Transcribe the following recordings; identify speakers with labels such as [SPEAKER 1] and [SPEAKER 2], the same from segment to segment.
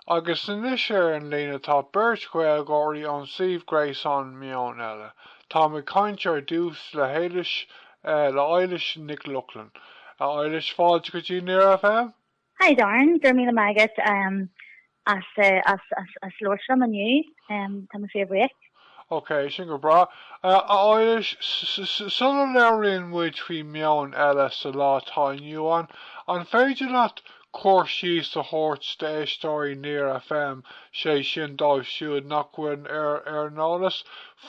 [SPEAKER 1] Agus anois ar an líne tá beirt Ghaeilgeoirí ón suíomh gréasáin Meon Eile. Táim ag caint ar dtús le hEilís, le Eilís Nic Lochlainn. A Eilís, fáilte go dtí Near FM! Hi Darren,
[SPEAKER 2] go raibh míle maith agat as labhairt liom inniu. Tá mé fíorbhuíoch. Ok,
[SPEAKER 1] sin go breá. A Eilís, sula labhraíonn muid faoi Meon Eile sa lá atá inniu ann, an féidir leat cur síos a thabhairt d'éisteoirí Near FM, sé sin dóibh siúd nach bhfuil ar an eolas,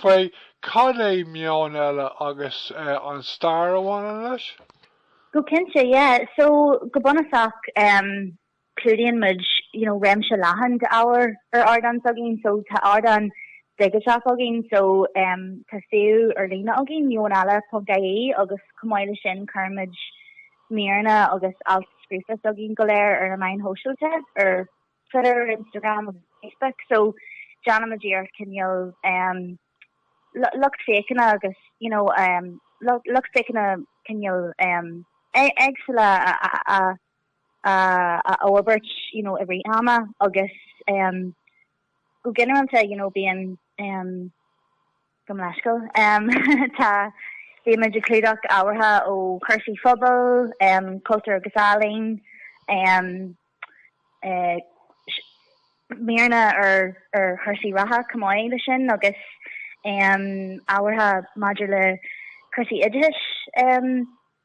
[SPEAKER 1] faoi cad é Meon Eile agus an stair a bhaineann leis? Go cinnte,
[SPEAKER 2] yeah. So, go bunúsach, em. Clúdaíonn muid you know réimse leathan d'ábhar ar ardán s'againn. So tá ardán digiteach againn so um tá suíomh ar líne againn meoneile.ie agus chomh maith le sin cuirimid míreanna agus ailt scríofa s'againn go léir ar na meáin shóisialta, ar Twitter, Instagram agus Facebook. So déanaimid iarracht cineál um lucht féachana agus you know um lucht féachana cineál um éagsúla a a fhorbairt you know i rith ama agus em go ginearálta you know bíonn em go mbíonn scéal em tá bímid ag clúdach ábhartha ó chúrsaí pobail, em cultúr agus ealaín, em eh míreanna ar ar chúrsaí reatha chomh maith leis sin agus em ábhartha maidir le cúrsaí oideachais em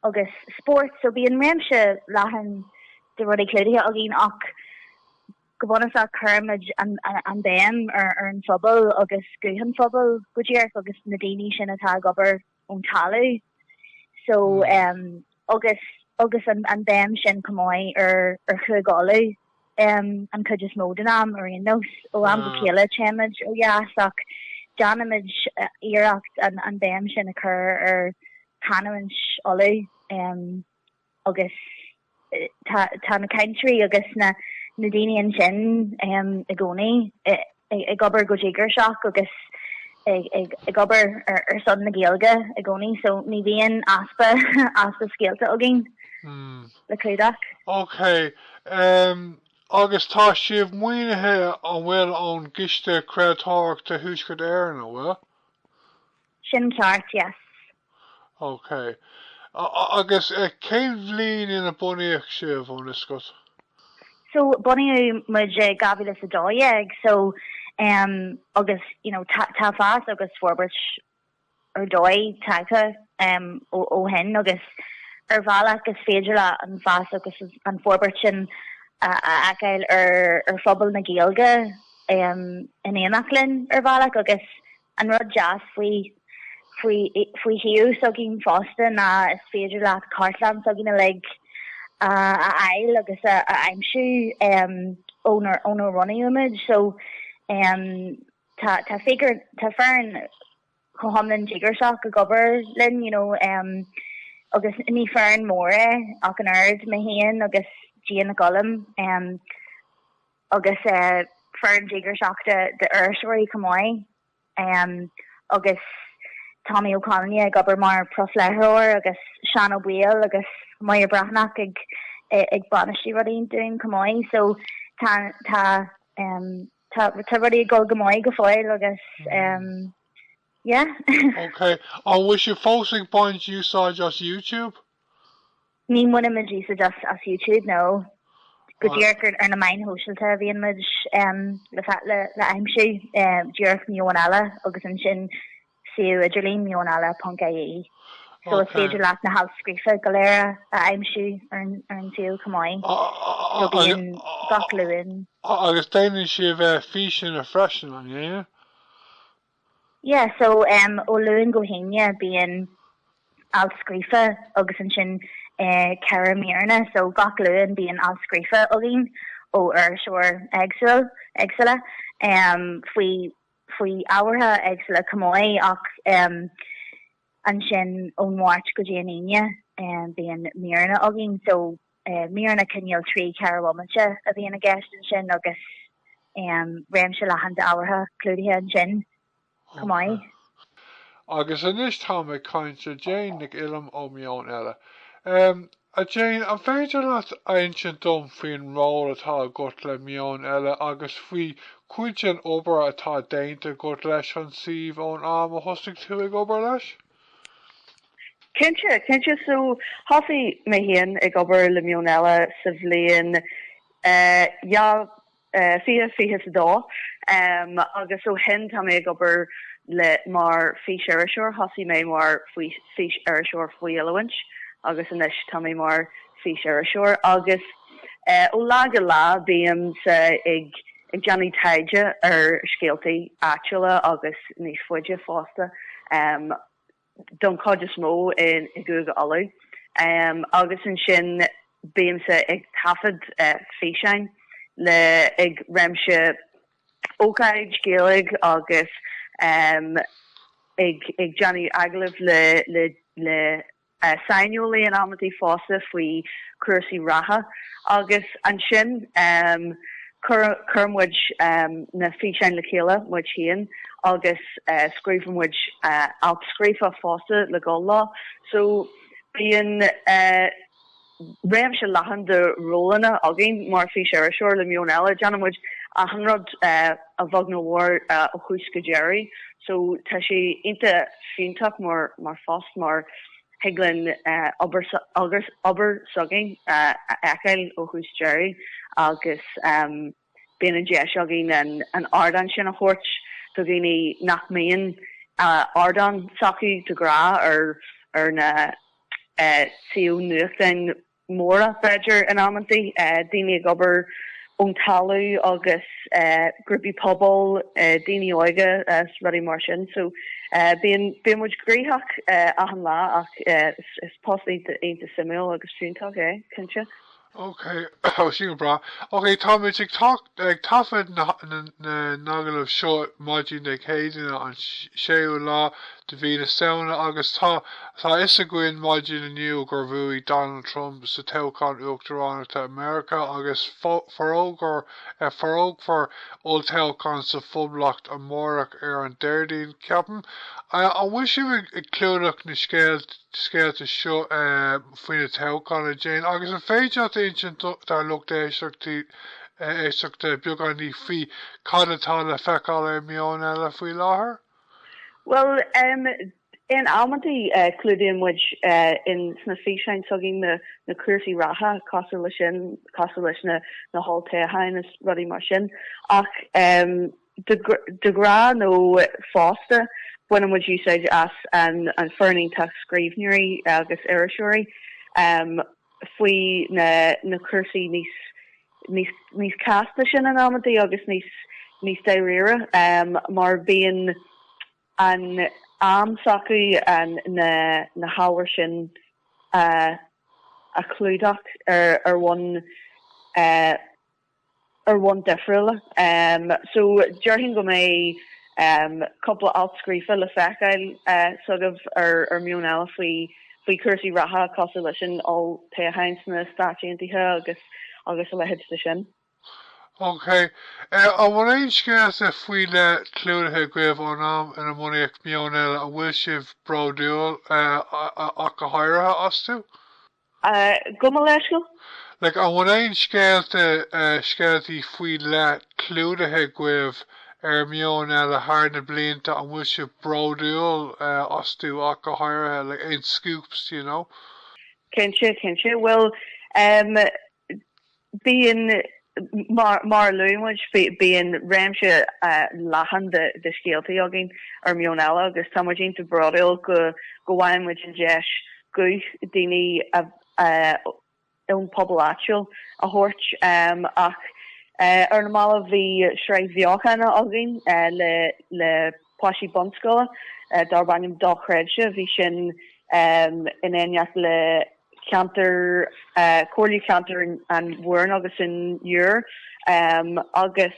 [SPEAKER 2] agus spóirt so bíonn réimse leathan de rudaí clúdaithe againn ach go bunúsach cuirimid an béim ar an phobal agus guth an phobail go díreach agus na daoine sin atá ag obair ón talamh so agus agus an béim sin chomh maith ar Chúige Uladh. an chuid is mó den am, ar aon nós. Ó am go chéile téimid ó dheas ach déanaimid iarracht an béim sin a chur ar chanúint Uladh agus ar na ceantair agus na daoine ansin i gcónaí. ag obair go díograiseach agus ag obair ar son na Gaeilge i gcónaí so ní bhíonn easpa easpa scéalta againn le clúdach. Ok,
[SPEAKER 1] em agus tá sibh maoinithe an bhfuil ón gCiste Craoltóireachta Thuaisceart Éireann, an bhfuil?
[SPEAKER 2] Sin ceart, yes.
[SPEAKER 1] Ok. Agus cén bhliain ina bunaíodh sibh, an suíomh? So,
[SPEAKER 2] bunaíodh muid i 2012, so, em, agus, you know, tá, tá fás agus forbairt ar dóigh tagtha, em, ó, ó shin agus ar bhealach is féidir le an fás agus an forbairt sin a, a fheiceáil ar, ar phobal na Gaeilge, em, in éineacht linn ar bhealach agus, An rud deas faoi faoi faoi shuíomh s'againn fosta ná is féidir leat cartlann s'againn uilig a fháil agus a aimsiú ónar ónar bhunaíodh muid so em tá tá fig- tá foireann chomh hiomlán díograiseach ag obair linn you know em agus ní foireann mór í ach an oiread, mé féin agus Jane Nic Uillim em. agus foireann díograiseach de iriseoirí chomh maith agus Tommy Ó Conghaile ag obair mar profléitheoir agus Seán Ó Baoill agus Máire Bhreathnach ag bainistiú rudaí dúinn chomh maith so tá tá um, tá tá rudaí ag dul go maith go fóill agus um, yeah. okay,
[SPEAKER 1] an bhfuil sibh fós ag baint úsáid as YouTube?
[SPEAKER 2] Ní bhaineann muid úsáid as as Youtube nó go díreach ar ar na meáin shóisialta a bhíonn muid em le fa- le le aimsiú em díreach Meon Eile agus ansin suíomh idirlín Meon Eile ponc ie. So is féidir leat na hailt scríofa go léir a aimsiú ar an ar an suíomh chomh maith. So bíonn gach Luan. Agus déanann
[SPEAKER 1] sibh eh, físeanna freisin, an ndéanann?
[SPEAKER 2] Yeah so em ó Luan go hAoine bíonn alt scríofa agus ansin eh ceathair míreanna so gach Luan bíonn alt scríofa againn ó iriseoir éagsúil éagsúla em faoi faoi ábhartha éagsúla chomh maith ach em ansin ón Mháirt go dtí an Aoine eh bíonn míreanna againn so é. Míreanna cineál trí ceathair bomaite a bhíonn i gceist ansin agus réimse leathan d'ábhartha clúdaithe ansin chomh maith.
[SPEAKER 1] Agus anois táim ag caint le Jane Nic Uillim ó Meon Eile. A Jane, an féidir leat a insint dom faoin ról atá agat le Meon Eile agus faoi chuid den obair atá déanta agat leis an suíomh ón am a thosaigh tú ag obair leis? Cinnte,
[SPEAKER 3] cinnte. So, thosaigh mé féin ag obair le Meon Eile sa bhliain dhá fiche, fiche is a dó. Agus ó shin, tá mé ag obair le, mar fís-iriseoir. Thosaigh mé mar fís-iriseoir faoi oiliúint agus anois tá mé mar fís-iriseoir. Agus. Ó lá go lá bímse ag déanamh taighde ar scéaltaí áitiúla agus níos faide fosta, don chuid is mó i gCúige Uladh, agus ansin bímse ag taifead físeáin le ag réimse ócáidí Ghaeilge agus ag déanamh agallamh le saineolaithe in amantaí fosta faoi chúrsaí reatha agus ansin cuireann muid na físeáin le chéile muid féin agus scríobhann muid alt scríofa fosta le dhul leo so bíonn. réimse leathan de rólanna againn. Mar fís iriseoir le Meon Eile, déanann muid achan rud a bheag nó a mhór ó thús go deiridh. So tá sé iontach fiúntach mar phost mar thig linn obair s'againn a fheiceáil ó thús deiridh agus Bíonn an deis againn an ardán sin a thabhairt do dhaoine nach mbíonn ardán s'acu de ghnáth ar na suímh nuachtáin mhóra b'fhéidir in amanntaí, daoine ag obair ón talamh agus grúpaí pobail, daoine óga is rudaí mar sin. So bíonn muid gnoitheach achan lá ach is post iontach suimiúil agus fiúntach é, cinnte. Ok,
[SPEAKER 1] oh, sin go breá. Ok, táimid ag, tac- ag taifead na, ha- na, na n-agallamh seo maidin Dé Céadaoine an s- séú lá de mhí na Samhna agus tá, tá 'fhios againn maidin inniu gur bhuaigh Donald Trump sa toghchán uachtaránachta i Meiriceá agus fo- forógra- eh, forógfar olltoghchán sa Phoblacht amárach ar an Déardaoin, ceapaim. Eh, an bhfuil sibh ag, ag clúdach na scéalt? scéalta seo faoi na toghcháin a Jane agus an féidir leat a insint dár lucht éisteachta beagán ní faoi cad atá le feiceáil ar Meon Eile faoi láthair?
[SPEAKER 3] Bhuel, in amantaí clúdaíonn muid insna físeáin s'againn na cúrsaí reatha cosúil leis sin, cosúil leis na holltoghcháin is rudaí mar sin ach, De ghnáth nó fosta, baineann muid úsáid as an fhoireann iontach scríbhneoirí agus iriseoirí faoi na cúrsaí níos casta sin in amantaí agus níos dáiríre mar bíonn an t-am s'acu na hábhair sin a chlúdach ar bhonn ar bhonn difriúla. So déarfainn go mbeidh cúpla alt scríofa le feiceáil agaibh ar Meon Eile faoi, faoi chúrsaí reatha cosúil leis an olltoghchán sna Stáit Aontaithe agus, agus a leithéid de sin.
[SPEAKER 1] OK. An bhfuil aon scéalta faoi leith clúdaithe agaibh ón am inar bunaíodh Meon Eile a bhfuil sibh bródúil ach go háirithe astu?
[SPEAKER 3] Gabh mo leithscéal. Like, an bhfuil
[SPEAKER 1] aon scéalta, scéaltaí faoi leith clúdaithe agaibh ar Meon Eile thar na blianta a bhfuil sibh bródúil astu ach go háirithe, like, aon scoops, you know? Cinnte, cinnte. Bhuel, eh.
[SPEAKER 3] Bíonn, mar a luaigh muid, bíonn réimse leathan de scéaltaí againn ar Meon Eile agus tá muid iontach bródúil go bhfaigheann muid an deis guth daoine ón bpobal áitiúil a thabhairt ach ar na mallaibh, bhí sraith bheochana againn le páistí bunscoile darb ainm Dochreidte, bhí sin in éineacht le. ceantar, Comhairle Ceantair an Iúir, Mhúrn agus an Dúin, agus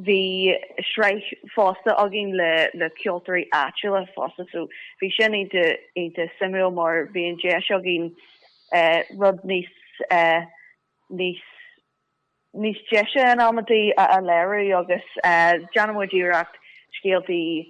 [SPEAKER 3] bhí sraith fosta againn le ceoltóirí áitiúla fosta so bhí sin iontach suimiúil mar bhí an deis againn rud níos, níos deise nó amaidí a léiriú agus déanann muid iarracht scéaltaí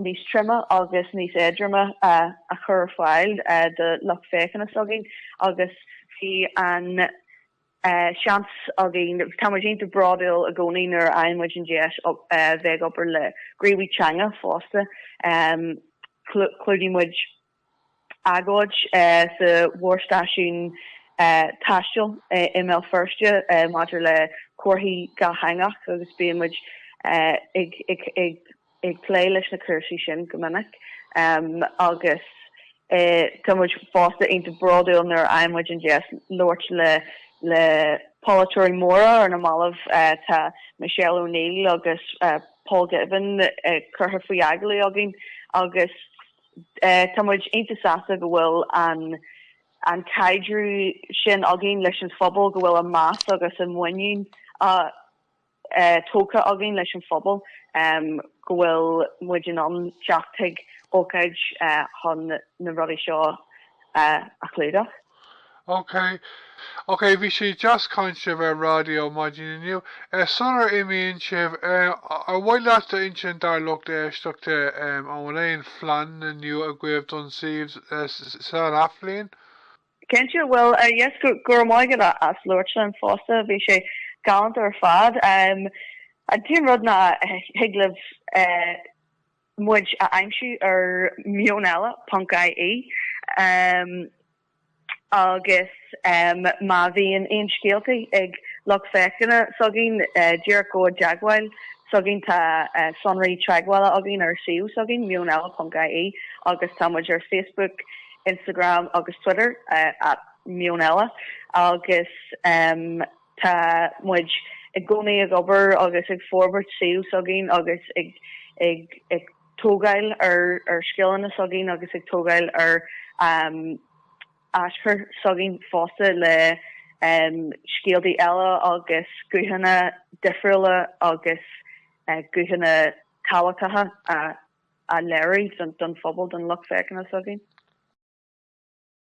[SPEAKER 3] níos troime agus níos éadroime a chur ar fáil do lucht féachana s'againn agus bhí an seans againn, tá muid iontach bródúil i gcónaí nuair a fhaigheann muid an deis bheith ag obair le gníomhaithe teanga fosta. Chlúdaigh muid. agóid sa mhórstáisiún taistil i mBéal Feirste maidir le comharthaíocht dhátheangach agus bíonn muid ag plé leis na cúrsaí sin go minic agus tá muid fosta iontach bródúil nuair a fhaigheann muid an deis labhairt le polaiteoirí móra. Ar na mallaibh tá Michelle O'Neill agus Paul Givan curtha faoi agallamh againn agus. Tá muid iontach sásta go bhfuil an caidriú sin againn leis an phobal, go bhfuil an meas agus an muinín tógtha againn leis an phobal, go bhfuil muid in ann teacht chuig ócáid chun na rudaí seo a chlúdach.
[SPEAKER 1] Ok. Ok, bhí sé deas ag caint libh ar raidió maidin inniu. Eh, sular imíonn sibh, eh, ar mhaith leat a insint dár lucht éisteachta, em, an bhfuil aon phlean nua agaibh don suíomh, eh, san athbhliain?
[SPEAKER 3] Cinnte, bhuel, eh, yes, go, go raibh maith agat as labhairt linn fosta, bhí sé galánta ar fad. Em, an t-aon rud ná, eh, thig libh, eh, muid a aimsiú ar Meon Eile ponc ie agus má bhíonn aon scéaltaí ag lucht féachana s'againn díreach gabh i dteagmháil s'againn tá sonraí teagmhála againn ar suíomh s'againn Meon Eile ponc ie agus tá muid ar Facebook, Instagram agus Twitter at Meon Eile agus. Tá muid i gcónaí ag obair agus ag forbairt suíomh s'againn agus ag tógáil ar scileanna s'againn agus ag tógáil ar aschur s'againn fosta le scéaltaí eile agus guthanna difriúla agus guthanna tábhachtacha a léiriú don phobal, don lucht féachana s'againn.